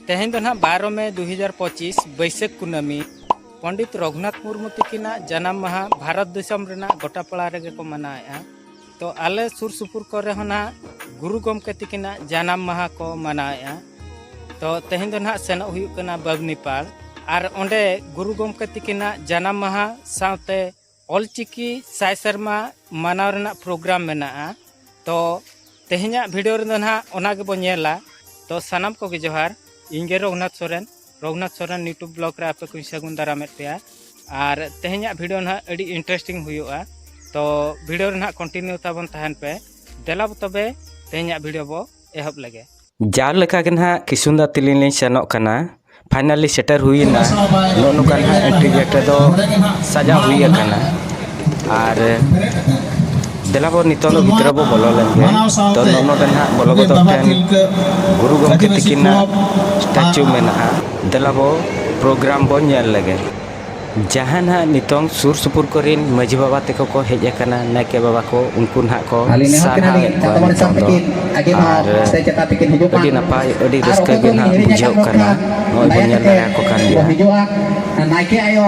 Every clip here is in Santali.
ᱛᱮᱦᱮᱧ ᱫᱚ ᱱᱟᱦᱟᱜ ᱵᱟᱨᱚ ᱢᱮ ᱫᱩ ᱦᱟᱡᱟᱨ ᱯᱚᱸᱪᱤᱥ ᱵᱟᱹᱭᱥᱟᱹᱠᱷ ᱠᱩᱱᱟᱹᱢᱤ ᱯᱚᱱᱰᱤᱛ ᱨᱚᱜᱷᱩᱱᱟᱛᱷ ᱢᱩᱨᱢᱩ ᱛᱟᱹᱠᱤᱱᱟᱜ ᱡᱟᱱᱟᱢ ᱢᱟᱦᱟ ᱵᱷᱟᱨᱚᱛ ᱫᱤᱥᱚᱢ ᱨᱮᱱᱟᱜ ᱜᱚᱴᱟ ᱯᱟᱲᱟ ᱨᱮᱜᱮ ᱠᱚ ᱢᱟᱱᱟᱣᱮᱫᱼᱟ ᱛᱚ ᱟᱞᱮ ᱥᱩᱨ ᱥᱩᱯᱩᱨ ᱠᱚᱨᱮ ᱦᱚᱸ ᱱᱟᱦᱟᱜ ᱜᱩᱨᱩ ᱜᱚᱢᱠᱮ ᱛᱤᱠᱤᱱᱟᱜ ᱡᱟᱱᱟᱢ ᱢᱟᱦᱟ ᱠᱚ ᱢᱟᱱᱟᱣᱮᱫᱼᱟ ᱛᱚ ᱛᱮᱦᱮᱧ ᱫᱚ ᱱᱟᱦᱟᱜ ᱥᱮᱱᱚᱜ ᱦᱩᱭᱩᱜ ᱠᱟᱱᱟ ᱵᱟᱵᱽᱱᱤᱯᱟᱲ ᱟᱨ ᱚᱸᱰᱮ ᱜᱩᱨᱩ ᱜᱚᱢᱠᱮ ᱛᱤᱠᱤᱱᱟᱜ ᱡᱟᱱᱟᱢ ᱢᱟᱦᱟ ᱥᱟᱶᱛᱮ ᱚᱞᱪᱤᱠᱤ ᱥᱟᱭ ᱥᱮᱨᱢᱟ ᱢᱟᱱᱟᱣ ᱨᱮᱱᱟᱜ ᱯᱨᱳᱜᱨᱟᱢ ᱢᱮᱱᱟᱜᱼᱟ ᱛᱚ ᱛᱮᱦᱮᱧᱟᱜ ᱵᱷᱤᱰᱤᱭᱳ ᱨᱮᱫᱚ ᱱᱟᱦᱟᱜ ᱚᱱᱟ ᱜᱮᱵᱚᱱ ᱧᱮᱞᱟ ᱛᱚ ᱥᱟᱱᱟᱢ ᱠᱚᱜᱮ ᱡᱚᱦᱟᱨ ᱤᱧᱜᱮ ᱨᱚᱜᱷᱩᱱᱟᱛᱷ ᱥᱚᱨᱮᱱ ᱨᱚᱜᱷᱩᱱᱟᱛᱷ ᱥᱚᱨᱮᱱ ᱤᱭᱩᱴᱩᱵᱽ ᱵᱞᱚᱜ ᱨᱮ ᱟᱯᱮ ᱠᱚᱧ ᱥᱟᱹᱜᱩᱱ ᱫᱟᱨᱟᱢᱮᱫ ᱯᱮᱭᱟ ᱟᱨ ᱛᱮᱦᱮᱧᱟᱜ ᱵᱷᱤᱰᱤᱭᱳ ᱱᱟᱦᱟᱜ ᱟᱹᱰᱤ ᱤᱱᱴᱟᱨᱮᱥᱴᱤᱝ ᱦᱩᱭᱩᱜᱼᱟ ᱛᱚ ᱵᱷᱤᱰᱤᱭᱳ ᱨᱮ ᱱᱟᱦᱟᱜ ᱠᱚᱱᱴᱤᱱᱤᱭᱩ ᱛᱟᱵᱚᱱ ᱛᱟᱦᱮᱱ ᱯᱮ ᱫᱮᱞᱟ ᱛᱚᱵᱮ ᱛᱮᱦᱮᱧᱟᱜ ᱵᱷᱤᱰᱤᱭᱳ ᱵᱚ ᱮᱦᱚᱵ ᱞᱮᱜᱮ ᱡᱟᱣ ᱞᱮᱠᱟ ᱜᱮ ᱱᱟᱦᱟᱜ ᱠᱤᱥᱩᱱᱫᱟ ᱛᱤᱞᱤᱧ ᱞᱤᱧ ᱥᱮᱱᱚᱜ ᱠᱟᱱᱟ ᱯᱷᱟᱭᱱᱟᱞᱤ ᱥᱮᱴᱮᱨ ᱦᱩᱭᱮᱱᱟ ᱱᱚᱜᱼᱚ ᱱᱚᱝᱠᱟ ᱱᱟᱦᱟᱜ ᱮᱱᱴᱨᱤ ᱜᱮᱴ ᱨᱮᱫᱚ ᱥᱟᱡᱟᱣ ᱦᱩᱭ ᱟᱠᱟᱱᱟ ᱟᱨ ᱫᱮᱞᱟ ᱵᱚᱱ ᱱᱤᱛᱚᱜ ᱫᱚ ᱜᱤᱫᱽᱨᱟᱹ ᱵᱚ ᱵᱚᱞᱚ ᱞᱮᱱ ᱜᱮ ᱛᱚ ᱱᱚᱰᱮ ᱱᱟᱦᱟᱜ ᱵᱚᱞᱚ ᱜᱚᱫᱚᱜ ᱴᱷᱮᱱ ᱜᱩᱨᱩ ᱜᱚᱢᱠᱮ ᱛᱤᱠᱤᱱᱟᱜ ᱥᱴᱟᱪᱩ ᱢᱮᱱᱟᱜᱼᱟ ᱫᱮᱞᱟ ᱵᱚ ᱯᱨᱳᱜᱨᱟᱢ ᱵᱚ ᱧᱮᱞ ᱞᱮᱜᱮ ᱡᱟᱦᱟᱸ ᱱᱟᱦᱟᱜ ᱱᱤᱛᱚᱝ ᱥᱩᱨ ᱥᱩᱯᱩᱨ ᱠᱚᱨᱮᱱ ᱢᱟᱺᱡᱷᱤ ᱵᱟᱵᱟ ᱛᱮᱠᱚ ᱠᱚ ᱦᱮᱡ ᱟᱠᱟᱱᱟ ᱱᱟᱭᱠᱮ ᱵᱟᱵᱟ ᱠᱚ ᱩᱱᱠᱩ ᱱᱟᱦᱟᱜ ᱠᱚ ᱥᱟᱨᱦᱟᱣᱮᱫ ᱠᱚᱣᱟ ᱱᱤᱛᱚᱝ ᱫᱚ ᱟᱨ ᱟᱹᱰᱤ ᱱᱟᱯᱟᱭ ᱟᱹᱰᱤ ᱨᱟᱹᱥᱠᱟᱹ ᱜᱮ ᱱᱟᱦᱟᱜ ᱵᱩᱡᱷᱟᱹᱜ ᱠᱟᱱᱟ ᱱᱚᱜᱼᱚᱭ ᱵᱚᱱ ᱧᱮᱞ ᱫᱟᱲᱮᱭᱟᱠᱚ ᱠᱟᱱ ᱜᱮᱭᱟ ᱱᱟᱭᱠᱮ ᱟᱭᱳ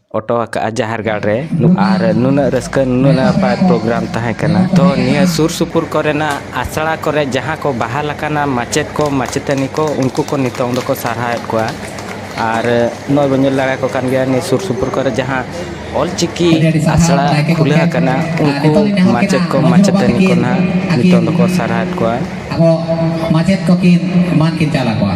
ᱚᱴᱚ ᱟᱠᱟᱫᱼᱟ ᱡᱟᱦᱮᱨ ᱜᱟᱲ ᱨᱮ ᱟᱨ ᱱᱩᱱᱟᱹᱜ ᱨᱟᱹᱥᱠᱟᱹ ᱱᱩᱱᱟᱹᱜ ᱱᱟᱯᱟᱭ ᱯᱨᱳᱜᱨᱟᱢ ᱛᱟᱦᱮᱸ ᱠᱟᱱᱟ ᱛᱚ ᱱᱤᱭᱟᱹ ᱥᱩᱨ ᱥᱩᱯᱩᱨ ᱠᱚᱨᱮᱱᱟᱜ ᱟᱥᱲᱟ ᱠᱚᱨᱮ ᱡᱟᱦᱟᱸ ᱠᱚ ᱵᱟᱦᱟᱞ ᱟᱠᱟᱱᱟ ᱢᱟᱪᱮᱫ ᱠᱚ ᱢᱟᱪᱮᱛᱟᱹᱱᱤ ᱠᱚ ᱩᱱᱠᱩ ᱠᱚ ᱱᱤᱛᱚᱝ ᱫᱚᱠᱚ ᱥᱟᱨᱦᱟᱣᱮᱫ ᱠᱚᱣᱟ ᱟᱨ ᱱᱚᱜᱼᱚᱭ ᱵᱚᱱ ᱧᱮᱞ ᱫᱟᱲᱮᱭᱟᱠᱚ ᱠᱟᱱ ᱜᱮᱭᱟ ᱱᱤᱭᱟᱹ ᱥᱩᱨ ᱥᱩᱯᱩᱨ ᱠᱚᱨᱮ ᱡᱟᱦᱟᱸ ᱚᱞ ᱪᱤᱠᱤ ᱟᱥᱲᱟ ᱠᱷᱩᱞᱟᱹᱣ ᱟᱠᱟᱱᱟ ᱩᱱᱠᱩ ᱢᱟᱪᱮᱫ ᱠᱚ ᱢᱟᱪᱮᱛᱟᱹᱱᱤ ᱠᱚ ᱱᱟᱜ ᱱᱤᱛᱚᱝ ᱫᱚᱠᱚ ᱥᱟᱨᱦᱟᱣᱮᱫ ᱠᱚᱣᱟ ᱟᱵᱚ ᱢᱟᱪᱮᱫ ᱠᱚᱠᱤᱱ ᱮᱢᱟᱱ ᱠᱤᱱ ᱪᱟᱞ ᱟᱠᱚᱣᱟ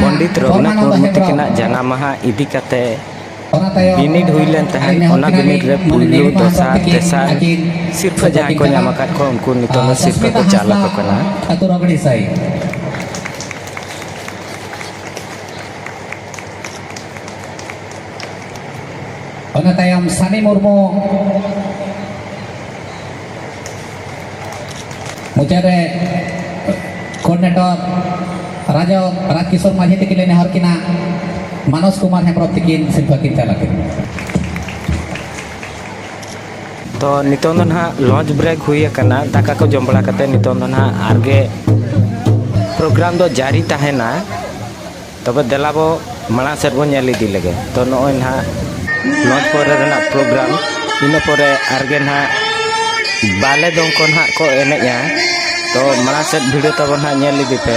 ᱯᱚᱱᱰᱤᱛ ᱨᱚᱜᱷᱩᱱᱟᱛᱷ ᱢᱩᱨᱢᱩ ᱛᱟᱹᱠᱤᱱᱟᱜ ᱡᱟᱱᱟᱢ ᱢᱟᱦᱟ ᱤᱫᱤ ᱠᱟᱛᱮ ᱵᱤᱱᱤᱰ ᱦᱩᱭ ᱞᱮᱱ ᱛᱟᱦᱮᱸᱫ ᱚᱱᱟ ᱵᱤᱱᱤᱰ ᱨᱮ ᱯᱩᱭᱞᱩ ᱫᱚᱥᱟᱨ ᱛᱮᱥᱟᱨ ᱥᱤᱨᱯᱷᱟᱹ ᱡᱟᱦᱟᱸᱭ ᱠᱚ ᱧᱟᱢ ᱟᱠᱟᱫ ᱠᱚ ᱩᱱᱠᱩ ᱱᱤᱛᱚᱜ ᱫᱚ ᱥᱤᱨᱯᱷᱟᱹ ᱠᱚ ᱪᱟᱞ ᱟᱠᱚ ᱠᱟᱱᱟ ᱚᱱᱟ ᱛᱟᱭᱚᱢ ᱥᱟᱱᱤ ᱢᱩᱨᱢᱩ ᱢᱩᱪᱟᱹᱫ ᱨᱮ ᱠᱳᱨᱰᱤᱱᱮᱴᱚᱨ ᱨᱟᱡᱚ ᱨᱟᱡᱽ ᱠᱤᱥᱳᱨ ᱢᱟᱹᱡᱷᱤ ᱛᱤᱠᱤᱱ ᱞᱮ ᱱᱮᱦᱚᱨ ᱠᱤᱱᱟ ᱢᱟᱱᱚᱥ ᱠᱩᱢᱟᱨ ᱦᱮᱢᱵᱨᱚᱢ ᱛᱤᱠᱤᱱ ᱥᱤᱨᱯᱷᱟᱹ ᱠᱤᱱ ᱪᱟᱞ ᱟᱹᱠᱤᱱ ᱛᱚ ᱱᱤᱛᱚᱝ ᱫᱚ ᱱᱟᱦᱟᱜ ᱞᱚᱡᱽ ᱵᱨᱮᱠ ᱦᱩᱭ ᱟᱠᱟᱱᱟ ᱫᱟᱠᱟ ᱠᱚ ᱡᱚᱢ ᱵᱟᱲᱟ ᱠᱟᱛᱮ ᱱᱤᱛᱚᱝ ᱫᱚ ᱱᱟᱦᱟᱜ ᱟᱨᱜᱮ ᱯᱨᱳᱜᱨᱟᱢ ᱫᱚ ᱡᱟᱹᱨᱤ ᱛᱟᱦᱮᱱᱟ ᱛᱚᱵᱮ ᱫᱮᱞᱟ ᱵᱚ ᱢᱟᱲᱟᱝ ᱥᱮᱫ ᱵᱚ ᱧᱮᱞ ᱤᱫᱤ ᱞᱮᱜᱮ ᱛᱚ ᱱᱚᱜᱼᱚᱭ ᱱᱟᱦᱟᱜ ᱱᱚᱡᱽ ᱯᱚᱨᱮ ᱨᱮᱱᱟᱜ ᱯᱨᱳᱜᱨᱟᱢ ᱤᱱᱟᱹ ᱯᱚᱨᱮ ᱟᱨᱜᱮ ᱱᱟᱦᱟᱜ ᱵᱟᱞᱮ ᱫᱚᱝ ᱠᱚ ᱱᱟᱦᱟᱜ ᱠᱚ ᱮᱱᱮᱡᱼᱟ ᱛᱚ ᱢᱟᱲᱟᱝ ᱥᱮᱫ ᱵᱷᱤᱰᱤᱭᱳ ᱛᱟᱵᱚ ᱱᱟᱦᱟᱜ ᱧᱮᱞ ᱤᱫᱤ ᱯᱮ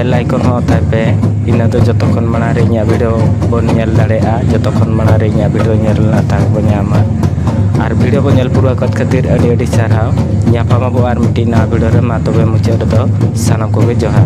ᱵᱮᱞ ᱟᱭᱠᱚᱱ ᱦᱚᱸ ᱚᱛᱟᱭ ᱯᱮ ᱤᱱᱟᱹ ᱫᱚ ᱡᱚᱛᱚ ᱠᱷᱚᱱ ᱢᱟᱲᱟᱝ ᱨᱮ ᱤᱧᱟᱹᱜ ᱵᱷᱤᱰᱤᱭᱳ ᱵᱚᱱ ᱧᱮᱞ ᱫᱟᱲᱮᱭᱟᱜᱼᱟ ᱡᱚᱛᱚ ᱠᱷᱚᱱ ᱢᱟᱲᱟᱝ ᱨᱮ ᱤᱧᱟᱹᱜ ᱵᱷᱤᱰᱤᱭᱳ ᱧᱮᱞ ᱨᱮᱱᱟᱜ ᱫᱟᱲᱮ ᱵᱚᱱ ᱧᱟᱢᱟ ᱟᱨ ᱵᱷᱤᱰᱤᱭᱳ ᱠᱚ ᱧᱮᱞ ᱯᱩᱨᱟᱹᱣ ᱟᱠᱟᱫ ᱠᱷᱟᱹᱛᱤᱨ ᱟᱹᱰᱤ ᱟᱹᱰᱤ ᱥᱟᱨᱦᱟᱣ ᱧᱟᱯᱟᱢ ᱟᱵᱚ ᱟᱨ ᱢᱤᱫᱴᱤᱡ ᱱᱟᱣᱟ ᱵᱷᱤᱰᱤᱭᱳ ᱨᱮ ᱢᱟ ᱛᱚᱵᱮ ᱢᱩᱪᱟᱹᱫ ᱨᱮᱫᱚ ᱥᱟᱱᱟᱢ ᱠᱚᱜᱮ ᱡᱚᱦᱟᱨ